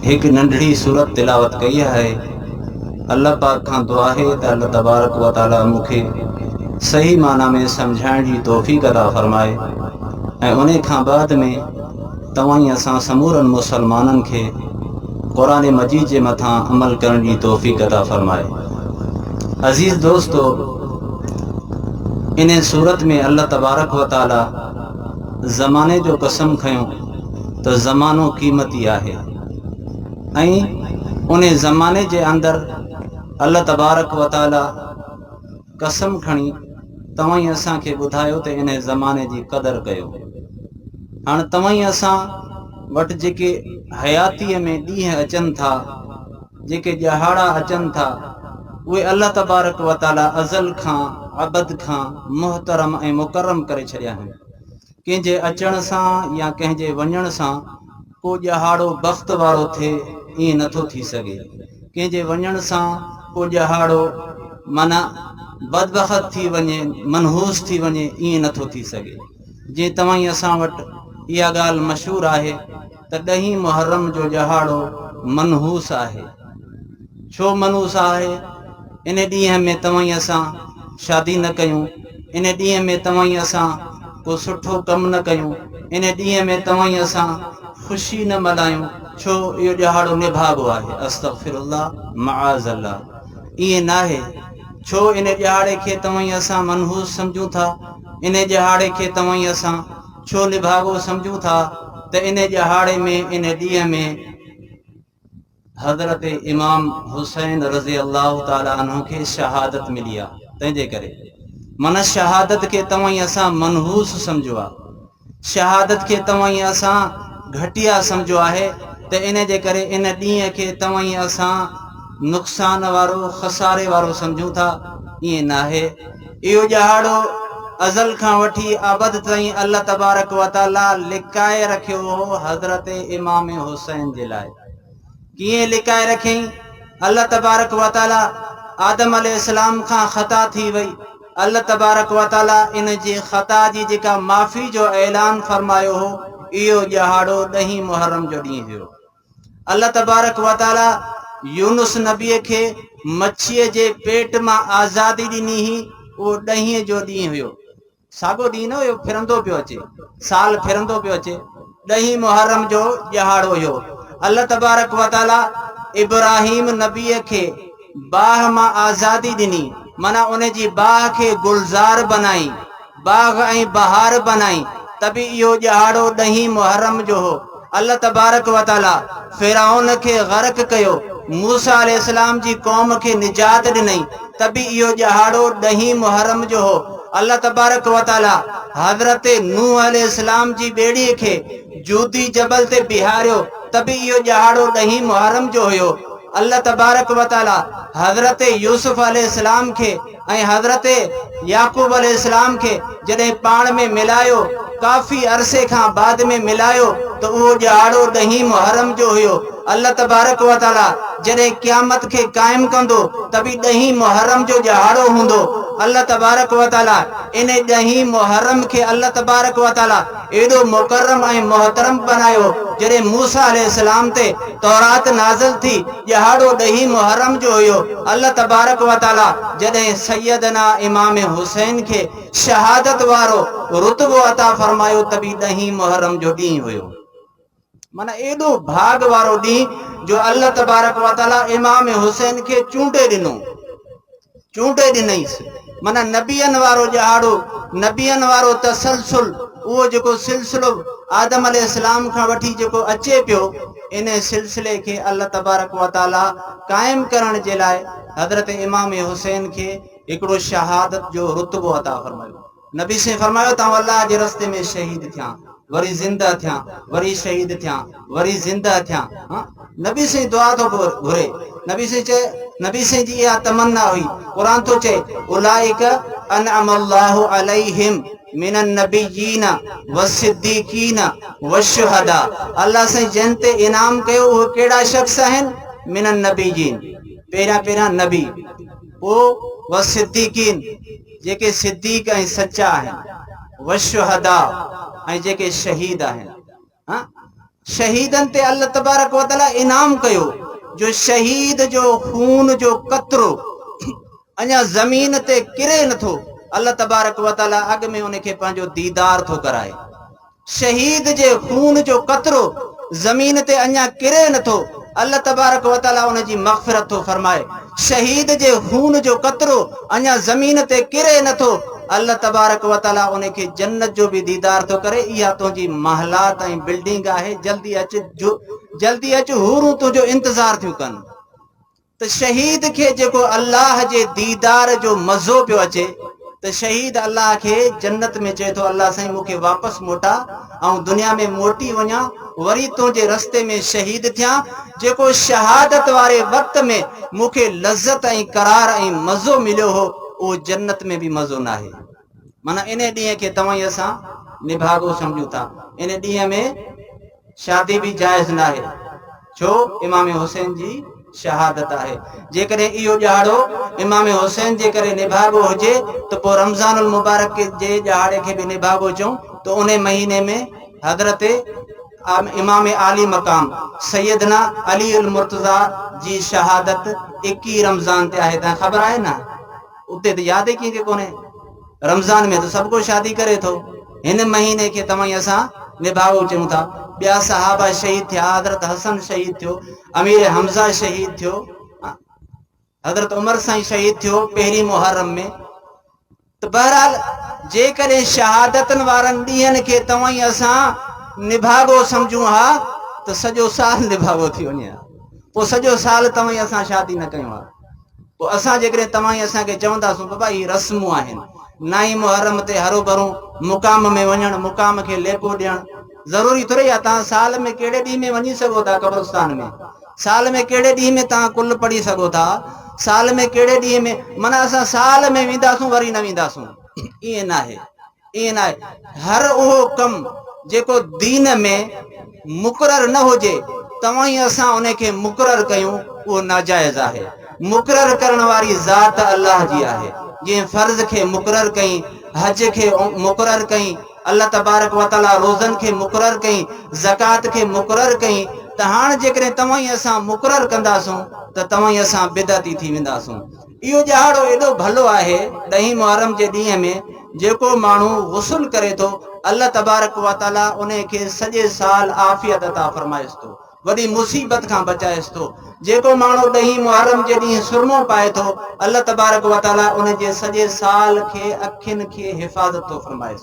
هڪ ننڍڙي سورت تلاوت ڪئي آهي الله پاڪ کان دعا آهي ته الله تبارڪ و تعالي مون کي صحيح معنيٰ ۾ سمجهائڻ جي توفيق عطا فرمائي ۽ انهي کان بعد ۾ توهان ۽ اسان سمورن مسلمانن کي قرآن مجيد جي مٿان عمل ڪرڻ جي توفيق عطا فرمائي عزيز دوستو انهي سورت ۾ الله تبارڪ و تعالي زماني جو قسم کنيو ته زمانو قيمتي آهي ۽ ان زماني جي اندر الله تبارڪ و تعالي قسم کڻي توهين اسان کي ٻڌايو ته ان زماني جي قدر ڪيو هاڻ توهين اسان وٽ جيڪي حياتي ۾ ڏينهن اچن ٿا جيڪي ڄهاڙا اچن ٿا اهي الله تبارڪ و تعالي ازل کان ابد کان محترم ۽ مڪرم ڪري ڇڏيا آهن ڪنهن جي اچڻ سان يا ڪنهن جي وڃڻ سان ڪو ڄهاڙو بخت وارو ٿئي ائين نه ٿو ٿي سگهي. ڪنهن جي وڃڻ سان ڪو ڄهاڙو معنيٰ بدبخت ٿي وڃي منحوس ٿي وڃي ائين نه ٿو ٿي سگهي. جئين توائين اسان وٽ اها ڳالهه مشهور آهي. ته ڏهين محرم جو ڄهاڙو منحوس آهي. ڇو منحوس آهي؟ ان ڏينهن ۾ توهين اسان شادي نه ڪيون، ان ڏينهن ۾ توهين اسان ڪو سٺو ڪم نه ڪيون، ان ڏينهن ۾ توهين اسان خوشي نه ملهايون، ڇو اهو ڄهاڙو نڀاڳو آهي؟ استغفر الله معاذ الله ائين ناهي، ڇو ان ڄهاڙي کي توهين اسان منحوس سمجهون ٿا، ان ڄهاڙي کي توهين اسان. ڇو نڀاڳو سمجهون ٿا ته انهي ڄهاڙي ۾ انهي ڏينهن ۾ حضرت امام حسين رضي الله تعالي عنه کي شهادت ملي آ تنهن جي ڪري من شهادت کي توهين اسان منحوس سمجهو آ شهادت کي توهين اسان گهٽيا سمجهو آهي ته انهي جي ڪري ان ڏينهن کي توهين اسان نقصان وارو خساري وارو سمجهون ٿا ائين ناهي اهو ڄاڙو ازل کان وٺي ابد تائين الله تبارڪ و تعاليٰ لڪائي رکيو هو حضرت امام حسين جي لاء ڪيئن لڪائي رکيائين الله تبارڪ و تعاليٰ آدم عليه السلام کان خطا ٿي وئي الله تبارڪ و تعاليٰ ان جي خطا جي جيڪا معافي جو اعلان فرمايو هو اهو ڄاڙو ڏهين محرم جو ڏينهن هيو الله تبارڪ و تعاليٰ يونس نبيء کي مڇيء جي پيٽ مان آزادي ڏني هئي، اهو ڏهين جو ڏينهن هيو. ساڳو ڏينهن نه هيو، ڦرندو پيو اچي، سال ڦرندو پيو اچي. ڏهين محرم جو ڏهاڙو هيو. الله تبارڪ و تعاليٰ ابراهيم نبيء کي باھ مان آزادي ڏني، معنيٰ ان جي باھ کي گلزار بنائين، باغ ۽ بهار بنائين ته به اهو ڄهاڙو ڏهين محرم جو هو. الله تبارڪ و تعاليٰ فرعون کي غرق ڪيو، موسيٰ عليه السلام جي قوم کي نجات ڏنائين ته به اهو ڄهاڙو ڏهين محرم جو هو. الله تبارڪ و تعاليٰ حضرت نوح عليه السلام جي ٻيڙيء کي جودي جبل تي بيهاريو ته به اهو ڄهاڙو ڏهين محرم جو هيو. الله تبارڪ و تعاليٰ حضرت يوسف عليه السلام کي ۽ حضرت يعقوب عليه السلام کي جڏهن پاڻ ۾ ملايو، ڪافي عرصي کان بعد ۾ ملايو ته اهو ڏهاڙو ڏهين محرم جو هيو. الله تبارڪ و تعاليٰ جڏهن قيامت کي قائم ڪندو ته به ڏهين محرم جو ڏهاڙو هوندو. الله تبارڪ و تعاليٰ انهي ڏهين محرم کي الله تبارڪ و تعاليٰ ايڏو مڪرم ۽ محترم بنايو، جڏهن موسيٰ عليه السلام تي تورات نازل ٿي، ڏهاڙو ڏهين محرم جو هيو، الله تبارڪ و تعاليٰ جڏهن سيدنا امام حسين کي شهادت وارو رتبو عطا فرمايو ته به ڏهين محرم جو ڏينهن هيو. معنيٰ ايڏو ڀاڳ وارو ڏينهن جو الله تبارڪ و تعاليٰ امام حسين کي چونڊي ڏنو چونڊي ڏنئيس معنيٰ نبين وارو ڄاڙو نبين وارو تسلسل اهو جيڪو سلسلو آدم عليه السلام کان وٺي جيڪو اچي پيو ان سلسلي کي الله تبارڪ و تعاليٰ قائم ڪرڻ جي لاء حضرت امام حسين کي هڪڙو شهادت جو رتبو عطا فرمايو نبي سين فرمايو ته آئون الله جي رستي ۾ شهيد ٿيان وري زنده ٿيان وري شهيد ٿيان وري زنده ٿيان ها نبي سين دعا ٿو گهري نبي سين چئي نبي سين جي اها تمنا هئي قرآن ٿو چئي اولئک انعم الله عليهم من النبيين والصديقين والشهداء الله سين جن تي انعام ڪيو اهي ڪهڙا شخص آهن من النبيين پهريان پهريان نبي پوء والصديقين جيڪي صديق ۽ سچا آهن، والشهداء ۽ جيڪي شهيد آهن. شهيدن تي الله تبارڪ وتعالي انعام ڪيو جو شهيد جو خون جو قطرو اڃا زمين تي ڪري نٿو، الله تبارڪ وتعالي اڳ ۾ ان کي پنهنجو ديدار ٿو ڪرائي. شهيد جي خون جو قطرو زمين تي اڃا ڪري نٿو، الله تبارڪ و تعاليٰ ان جي مغفرت ٿو فرمائي. شهيد جي خون جو قطرو اڃا زمين تي ڪري نٿو، الله تبارڪ و تعاليٰ ان کي جنت جو به ديدار ٿو ڪري، اها تنهنجي محلات ۽ بلڊنگ آهي، جلدي اچ، جلدي اچ، حورون تنهنجو انتظار ٿيون ڪن. ته شهيد کي جيڪو الله جي ديدار جو مزو پيو اچي ته شهيد الله کي جنت ۾ چئي ٿو الله سائين مون کي واپس موٽاء آئون دنيا ۾ موٽي وڃان وري تنهنجي رستي ۾ شهيد ٿيان جيڪو شهادت واري وقت ۾ مون کي لذت ۽ قرار ۽ مزو مليو هو اهو جنت ۾ به مزو ناهي. معنيٰ انهيء ڏينهن کي توهين اسان نڀاڳو سمجهون ٿا. انهيء ڏينهن ۾ شادي به جائز ناهي، ڇو امام حسين جي شهادت آهي. جيڪڏهن اهو ڏهاڙو امام حسين جي ڪري نڀاڳو هجي ته پوء رمضان المبارڪ جي ڏهاڙي کي به نڀاڳو چئون ته انهيء مهيني ۾ حضرت امام عالي مقام سيدنا علي المرتضيٰ جي شهادت ايڪيهه رمضان تي آهي. تنهن کي خبر آهي نه؟ اتي ته ياد ئي ڪنهن کي ڪونهي. رمضان ۾ ته سڀ ڪو شادي ڪري ٿو. هن مهيني کي توهين اسان نڀاوو چيون ٿا. ٻيا صحابه شهيد ٿيا، حضرت حسن شهيد ٿيو، امير حمزه شهيد ٿيو، حضرت عمر سائين شهيد ٿيو پهرين محرم ۾. ته بهرحال جيڪڏهن شهادتن وارن ڏينهن کي توهين اسان نڀاڳو سمجهون ها ته سڄو سال نڀاڳو ٿي وڃي ها. پوء سڄو سال توهين اسان شادي نه ڪيون ها. پوء اسان جيڪڏهن توهان ئي اسان کي چوندا سو بابا هي رسمون آهن، نه ئي محرم تي هروڀرو مقام ۾ وڃڻ، مقام کي ليپو ڏيڻ ضروري ٿورئي آهي، توهان سال ۾ ڪهڙي ڏينهن ۾ وڃي سگهو ٿا قبرستان ۾، سال ۾ ڪهڙي ڏينهن ۾ توهان ڪل پڙهي سگهو ٿا، سال ۾ ڪهڙي ڏينهن ۾، معنيٰ اسان سال ۾ وينداسون وري نه وينداسون، ائين ناهي. ائين ناهي، هر اهو ڪم جيڪو دين ۾ مقرر نه هجي، توهين اسان ان کي مقرر ڪيون، اهو ناجائز آهي. مقرر ڪرڻ واري ذات الله جي آهي، جنهن فرض کي مقرر ڪيئين، حج کي مقرر ڪيئين، الله تبارڪ و تعاليٰ روزن کي مقرر ڪيئين، زڪوات کي مقرر ڪيئين، ته هاڻ جيڪڏهن توهين اسان مقرر ڪنداسون ته توهين اسان بدعتي ٿي وينداسون. اهو ڏهاڙو ايڏو ڀلو آهي، ڏهين محرم جي ڏينهن ۾ جيڪو ماڻهو غسل ڪري ٿو، الله تبارڪ و تعاليٰ انهي کي سڄي سال عافيت عطا فرمائيس ٿو، وڏي مصيبت کان بچائيس ٿو. جيڪو ماڻهو ڏهين محرم جي ڏينهن سرمو پائي ٿو، الله تبارڪ و تعاليٰ ان جي سڄي سال کي اکين کي حفاظت ٿو فرمائيس.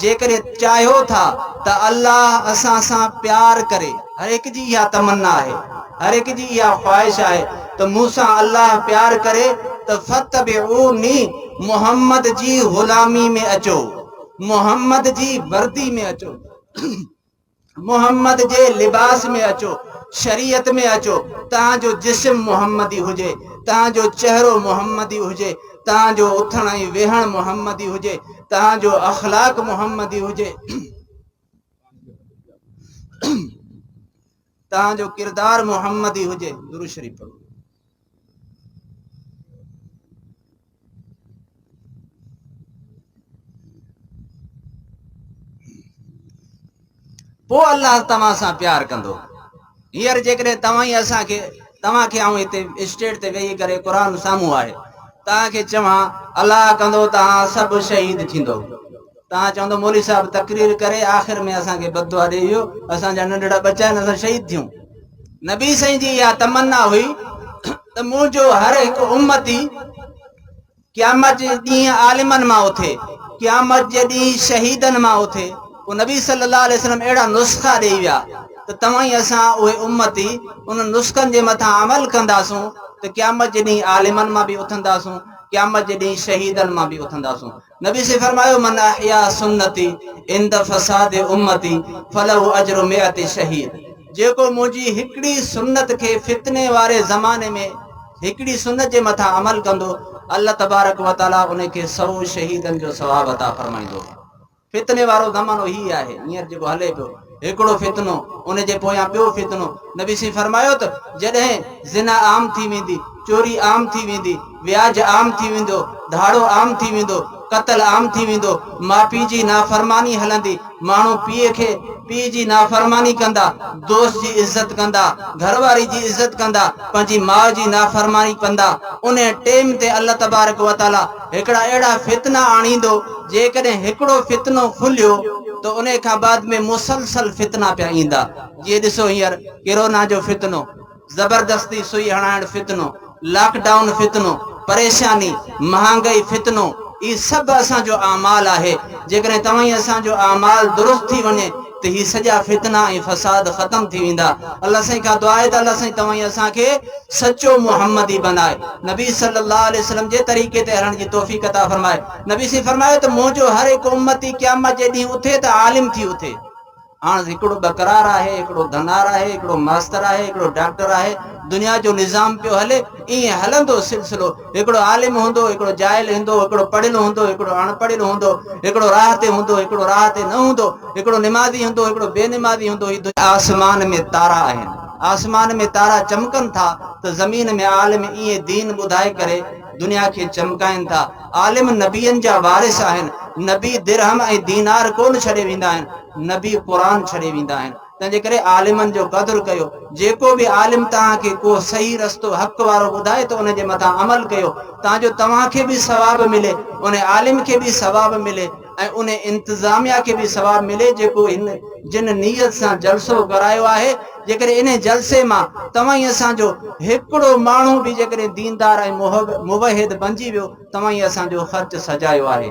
جيڪڏهن چاهيو ٿا ته الله اسان سان پيار ڪري. هر هڪ جي اها تمنا آهي، هر هڪ جي اها خواهش آهي ته مون سان الله پيار ڪري ته فاتبعوني محمد جي غلامي ۾ اچو، محمد جي وردي ۾ اچو. محمد جي لباس ۾ اچو، شريعت ۾ اچو، توهان جو جسم محمدي هجي، توهان جو چهرو محمدي هجي، توهان جو اٿڻ ۽ ويهڻ محمدي هجي، توهان جو اخلاق محمدي هجي، توهان جو ڪردار محمدي هجي. درود شريف پڙهو. پوء الله توهان سان پيار ڪندو هينئر جيڪڏهن توهان ئي اسان کي توهان کي آئون هتي اسٽيج تي ويهي ڪري قرآن سامهون آهي توهان کي چوان الله ڪندو توهان سڀ شهيد ٿيندو تان چوندو مولوي صاحب تقرير ڪري آخر ۾ اسان کي بددعا ڏئي ويو اسان جا ننڍڙا ٻچا آهن اسان شهيد ٿيون نبي سائين جي اها تمنا هئي ته منهنجو هر هڪ امتي قيامت جي ڏينهن عالمن مان اٿي قيامت جي ڏينهن شهيدن مان اٿي پوء نبي صلي الله عليه وسلم اهڙا نسخا ڏيئي ويا ته توهان ئي اسان اهي امتي انهن نسخن جي مٿان عمل ڪنداسون ته قيامت جي ڏينهن عالمن مان به اٿنداسون قيامت جي ڏينهن شهيدن مان به اٿنداسون نبي صلي فرمايو من احيا سنتي عند فساد امتي فله اجر مئت شهيد جيڪو منهنجي هڪڙي سنت کي فتني واري زماني ۾ هڪڙي سنت جي مٿان عمل ڪندو الله تبارڪ وتعالي ان کي سئو شهيدن جو ثواب عطا فرمائيندو فتني وارو زمانو هي آهي هينئر جيڪو هلي پيو هڪڙو فتنو، ان جي پويان ٻيو فتنو، نبي سين فرمايو ته جڏهن زنا عام ٿي ويندي، چوري عام ٿي ويندي، وياج عام ٿي ويندو، ڌاڙو عام ٿي ويندو، قتل عام ٿي ويندو، ماء پيء جي نافرماني هلندي، ماڻهو پيء کي پيء جي نافرماني ڪندا، دوست جي عزت ڪندا، گهر واري جي عزت ڪندا، پنهنجي ماء جي نافرماني ڪندا، انهي ٽيم تي الله تبارڪ وتعاليٰ هڪڙا اهڙا فتنا آڻيندو، جيڪڏهن هڪڙو فتنو کليو ته انهي کان بعد ۾ مسلسل فتنا پيا ايندا، جيئن ڏسو هينئر ڪرونا جو فتنو، زبردستي سوئي هڻائڻ فتنو، لاڪ ڊائون فتنو، پريشاني، مهانگائي فتنو، هي سڀ اسان جو اعمال آهي، جيڪڏهن توهين اسان جو اعمال درست ٿي وڃي. ته هي سڄا فتنا ۽ فساد ختم ٿي ويندا الله سائين کان دعا آهي ته الله سائين توهان اسان کي سچو محمدي بنائي نبي صلي الله عليه وسلم جي طريقي تي هلڻ جي توفيق عطا فرمائي نبي سائين فرمايو ته منهنجو هر هڪ امتي قيامت جي ڏينهن اٿي ته عالم ٿي اٿي هاڻ هڪڙو ٻڪرار آهي هڪڙو ڌنار آهي هڪڙو ماستر آهي هڪڙو ڊاڪٽر آهي دنيا جو نظام پيو هلي ائين هلندو سلسلو هڪڙو عالم هوندو، هڪڙو جاهل هندو، هڪڙو پڙهيل هوندو، هڪڙو اڻ پڙهيل هوندو، هڪڙو راهه تي هوندو، هڪڙو راهه تي نه هوندو، هڪڙو نمازي هوندو، هڪڙو بي نمازي هوندو، هي دنيا. آسمان ۾ تارا آهن، آسمان ۾ تارا چمڪن ٿا ته زمين ۾ عالم ائين دين ٻڌائي ڪري دنيا کي چمڪائين ٿا، عالم نبين جا وارث آهن، نبي درهم ۽ دينار ڪونه ڇڏي ويندا آهن، نبي قرآن ڇڏي ويندا آهن. تنهنجي ڪري عالمن جو قدر ڪيو. جيڪو به عالم توهان کي ڪو صحيح رستو حق وارو ٻڌائي ته ان جي مٿان عمل ڪيو تان جو توهان کي به ثواب ملي، ان عالم کي به ثواب ملي ۽ ان انتظاميا کي به ثواب ملي جيڪو هن جن نيت سان جلسو ڪرايو آهي. جيڪڏهن انهي جلسي مان توهين اسان جو هڪڙو ماڻهو به جيڪڏهن ديندار ۽ موحد بنجي ويو توهين اسان جو خرچ سجايو آهي.